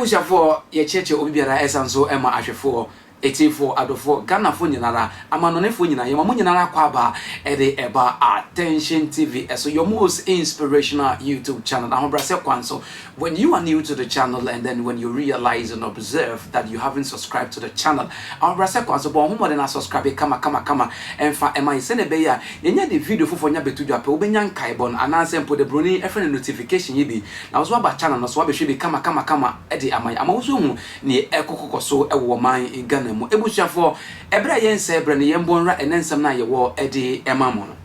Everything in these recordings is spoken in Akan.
abusuafoɔ yɛkyerɛkyerɛ obi biara ɛsan so ɛma ahwɛfoɔ ɛtiefo adɔfoɔ ghanafoɔ nyinara amanɔnefoɔ nyinaa yɛma mo nyinara kɔ aba ɛde ɛba attention tv ɛso your most inspirational youtube channel ahobrɛsɛ kwan so When you are new to the channel and then when you realize and observe that you haven't subscribed to the channel, ahobrɛasɛ kwan so, bɔ wo ho mmɔden na subscribe kama kama kama ɛmfa ɛma yɛn sɛnea ɛbɛyɛ a yɛnya de video foforɔ nya bɛto dwa pɛ wobɛnya nkaebɔ no anaasɛ mpo de broni ɛfrɛ no notification yi bi na wo nso woaba channel no so woabɛhwɛ bi kama kama kama de ama yɛn ama wo nso ahu neɛ ɛrekɔkɔkɔ so wɔ ɔman Ghana mu abusuafoɔ ɛberɛ a yɛnsɛe berɛ no yɛn bɔ nwura ɛnɛ nsɛm no a yɛwɔ de ma mo no.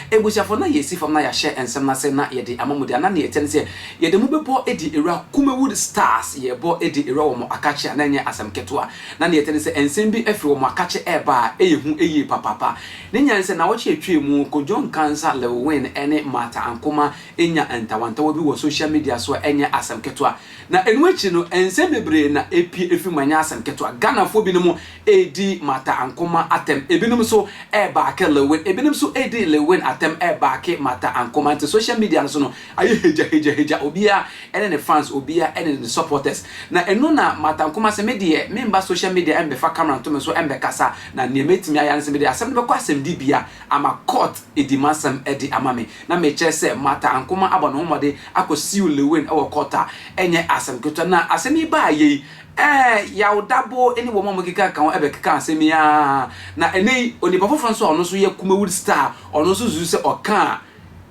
Ebusuafo, na yɛresi fam na yɛahyɛ nsɛm no ase na yɛde ama mo de a, na nea ɛteɛ ne sɛ yɛde mo bɛbɔ adi awura Kumawood Stars yɛrebɔ adi awura wɔn akakye a na ɛnyɛ asɛm ketewa. Na nea ɛteɛ ne sɛ nsɛm bi firi wɔn akakye reba a ɛyɛ hu yie papaapa. Ne nyinaa ne sɛ naawɔtwe a ɛtwaam mu Kojo Nkansah, Lil Wayne ne Martha Ankomah nya ntawantawa bi wɔ social media so a ɛnyɛ asɛm ketewa. Na ɛno akyi no, nsɛm bebree na ɛpue ɛfiri mu, ɛnyɛ asɛm ketewa. Ghanafoɔ binom redi Martha Ankomah atɛm, ɛbinom nso rebaake Lewin, ɛbinom nso redi Lewin atɛm rebaake Martha Ankomah, nti social media no so no ayɛ hegyahegyahegya, obiara ne ne fans, obiara ne ne supporters. Na ɛno na Martha Ankomah sɛ, me deɛ memba social media mmɛfa camera nto me so mmɛkasa, na deɛ mɛtumi ayɛ ara ne sɛ mede asɛm no bɛkɔ asɛmdibea ama court adi m'asɛm de ama me. na mekyerɛ sɛ Martha Ankomah abɔ ne ho mmɔden akɔsiw Lewin wɔ kɔɔto a, ɛnyɛ asɛm ketewa. Na asɛm yi baeɛ yi, ɛɛ, Yaw Darboe ne wɔn a wɔkeka ka ho bɛkeka asɛm yi ara. Na ɛnnɛ yi, onipa foforɔ nso a ɔno nso yɛ Kumawood star a ɔno nso susu sɛ ɔka a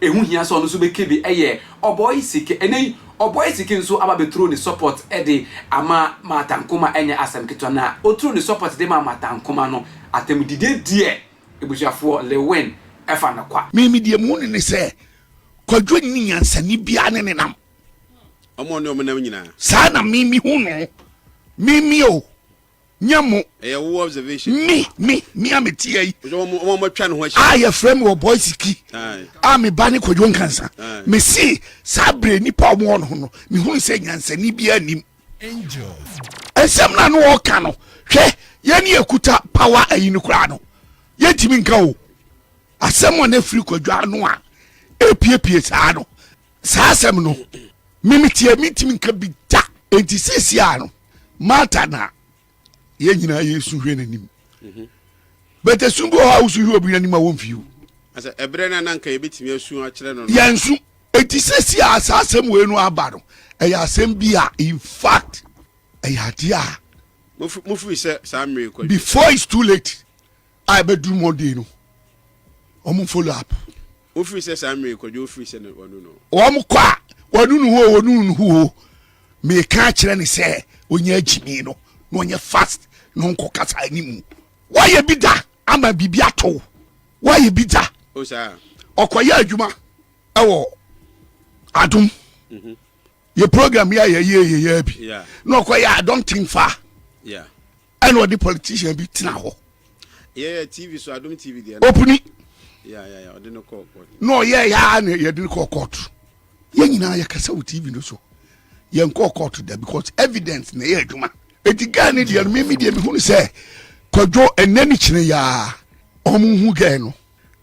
ɛho hia sɛ ɔno nso bɛka bi yɛ Ɔbɔe Sike. Ɛnnɛ yi, Ɔbɔe Sike nso aba abɛturo ne support de ama Martha Ankomah, ɛnyɛ asɛm ketewa. Na ɔturo ne support de maa Martha Ankomah no, atɛmdidie deɛ, Abusuafoɔ Lewin fa no kwa. Me me deɛ muhu no ne sɛ kwadwo nni nyansani biara ne ne nam. Ɔmo ɔne ɔmo nam nyinaa. Saa na me me hu no. Me me o. Nyɛ mo. Ɛyɛ wo observation. Me me me a me te ha yi. Ɔsɛ ɔmo ɔmo atwa ne ho ahyia. A yɛfrɛ me wɔ Boise ki. A me ba ne Kwadwo Nkansah. Me se saa bere nipa a ɔmo wɔ no ho no me hunu sɛ nyansani biara nnim. Angels. Nsɛm no a na ɔreka no, hwɛ, yɛn ne yɛkuta power ayi no koraa no, yɛntumi nka o. Asɛm a na ɛfiri kwadwa ano a ɛrepiepie saa no, saa asɛm no, me meteɛ mentumi nka bi da. Enti seesei ara no, Martha na yɛn nyinaa yɛ su hwɛ n'anim mhm. bɛtɛ sun bi wɔ hɔ a wosu hwɛ obi n'anim a wɔmfi o asɛ ɛberɛ no a na nka yɛbɛtumi asu akyerɛ no no yɛnsu ɛti sɛ si a saa asɛm wei no aba no ɛyɛ asɛm bi a in fact ɛyɛ adeɛ a mofiri sɛ saa mmerɛ kɔ before it's too late a ɛbɛduru monday no wɔn follow up. wofiri sɛ saa mmiri kwadwo wofiri sɛ wɔnu no. wɔn kɔ a wɔnu no hoo wɔnu no hoo meka kyerɛ ne sɛ onye agyimi no na ɔnyɛ fast na ɔnkɔ kasa anim wɔyɛ bi da ama biribi ato wɔyɛ bi da ɔkɔyɛ adwuma ɛwɔ adum. Mhm. yɛ program yi a yɛyɛ yɛyɛ bi na ɔkɔ yɛ adɔnten fa ɛna ɔde politician bi tena hɔ yɛyɛ tv so adom tv deɛ opini na ɔyɛ yaa na yɛde no kɔɔ court yɛn nyinaa yɛkasa wɔ tv no so yɛnkɔɔ court da because evidence na ɛyɛ adwuma ɛti gaa ne deɛ no meme deɛ mehunu sɛ kɔdwo ɛnɛ ne kyene yaa ɔmo hu gɛɛ no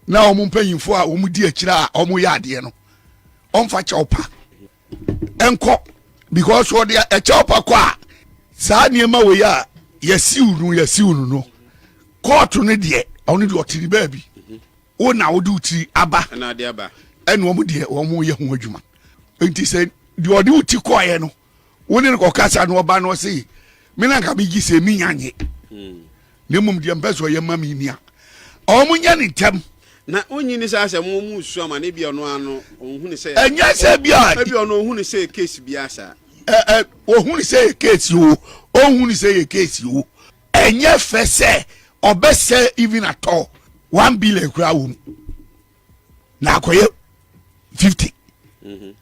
na wɔn mpanyimfoɔ a wɔdi akyire a wɔyɛ adeɛ no wɔmfa kyɛw pa nkɔ because wɔde ɛkyɛw pa kɔ a saa nneɛma wei a yɛsiw no yɛsiw no no kɔɔto no deɛ ɔno deɛ ɔte ne baabi wo na wode wo tiri aba ɛne wɔn deɛ wɔn yɛ ho adwuma nti sɛ deɛ ɔde wo ti kɔɔeɛ no wo ne no kɔkasa na ɔba no ɔse me na nka megye sɛ menya nye hmm. na mmom deɛ mpɛ sɛ ɔyɛ ma me ni a ɔmo nyɛ ne ntɛm na wonyi ne sɛ asɛ mo mu su ama ne bia ɔno ano ɔhu ne sɛ ɛnyɛ sɛ bia ɛbi ɔno ɔhu ne sɛ case bia saa ɛɛ ɔhu ne sɛ yɛ case o ɔhu ne sɛ yɛ case o ɛnyɛ fɛ sɛ ɔbɛsɛ even atɔ one billion kura wɔ mu na akɔyɛ fifty mhm.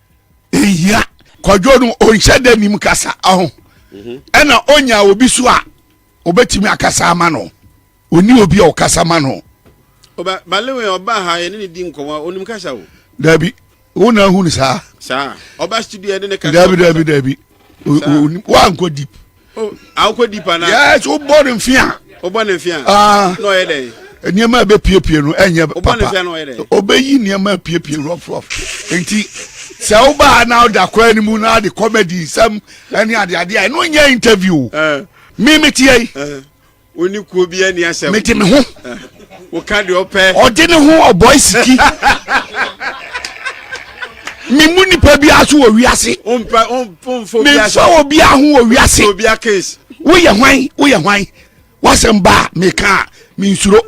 ehia kwadwo no ɔnhyɛ dɛ nim kasa ɔho mhm. ɛna ɔnya obi so a ɔbɛtumi akasa ama no ɔni obi a ɔkasa ma no ɔba balewe ɔba ha yɛne ne di nkɔmɔ ɔnim kasa o dabi wo na ahu no saa saa ɔba studio yɛne ne kasa dabi dabi dabi wankɔ deep Oh, awokɔ deep anaa. yes o bɔ ne nfi a. o bɔ ne nfi a. aa na ɔyɛ dɛ. nneɛma a ɛbɛ piepie no ɛnyɛ papa o bɔ ne nfi a na ɔyɛ dɛ. ɔbɛyi nneɛma a piepie rɔf rɔf nti sɛ o baa na ɔda kwan ne mu na adi comedy nsɛm ɛne ade ade a ɛno nyɛ interview o. mi mi ti yɛ yi. Ɔni kuo bi ani asɛm. Mede me ho. Woka deɛ ɔpɛ. Ɔde ne ho ɔbɔe siki. memu nipa biara so wɔ wiase memfa obiara ho wɔ wiase woyɛ hwan woyɛ hwan wasɛm baa meka a mensuro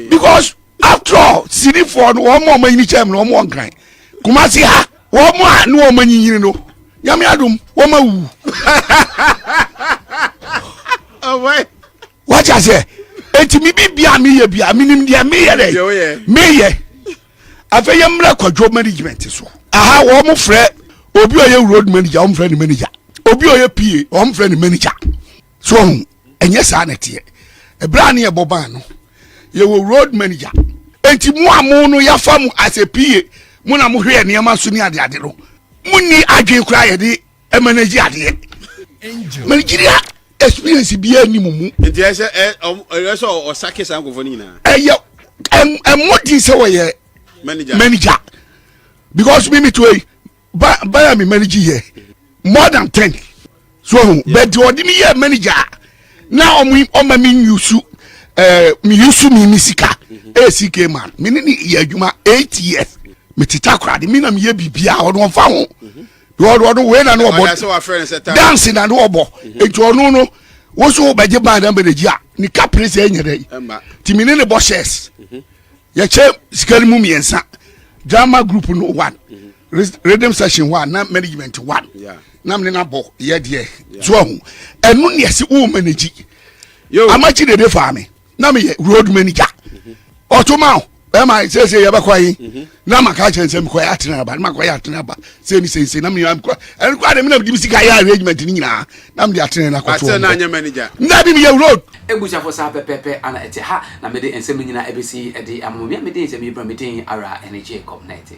because after all sinifoɔ no wɔn a wɔn ani kyɛm no wɔn wɔ nkran kumasi ha Wɔn a ne wɔn anyinyini no, Nyame adom, wɔn awuwu. Wate aseɛ? Enti me bibia meyɛ bia, menim deɛ meyɛ dɛ, meyɛ. Afei yɛ mmerɛ kwadwo management so. Aha, wɔn mo frɛ, obi ɔyɛ road manager, wɔn frɛ ne manager. Obi ɔyɛ PA, wɔn frɛ ne manager. so ɔho ɛnyɛ saa na ɛteɛ ɛberɛ a ne yɛbɔ ban no yɛwɔ road manager enti mo a mo no yɛafa mo as a pa mo na mohwɛ yɛ nneɛma so ne adeade no monni adwene koraa yɛde manage adeɛ managyeria experience biara ni mu mu nti ɛsɛ ɛyɛ sɛ ɔsake saa nkɔfoɔ no nyinaa ɛyɛ ɛmmɔden sɛ wɔyɛ manager because me metoa yi ba ba ya mi manager yɛ more than ten so ohun bɛɛ di ɔdi mi yɛ manager na ɔmo ɔma mi yusu ɛɛ eh, mi yusu mi mi sika esi ke ma mi ni ni yɛ adwuma eight years mi ti ta kora de mi na mi yɛ bibi a ɔno ɔfa ho ɔno ɔno wei na ne ɔbɔ dance na ne ɔbɔ eti ɔno no wosu bɛgye ban na manager a ne kapere sɛ ɛnyɛ dɛ ti mi ni ne bɔ shares. Mm-hmm. yɛkyɛ sika no mu mmiɛnsa drama group no one rhythm session one na management one na mene na bɔ yɛ deɛ so ahu ɛno ne ɛse wo managyi amakyi dede faa me na meyɛ road manager ɔtoma o ɛma sɛsɛ yɛbɛkɔ yi na maka akyerɛ no sɛ mekɔyɛ atena aba na makɔyɛ atena aba sɛ ne sɛnsɛ na meyɛ mekɔ ɛno kɔ ade mena mede me sika yɛ arrangement no nyinaa na mede atena no akɔtoɔ na bi meyɛ road abusuafo saa pɛpɛpɛ ana ɛte ha na mede nsɛm no nyinaa ɛbɛsi ɛde ama mo mea medin nsɛm yi bra medin ara ɛne Jacob na ɛte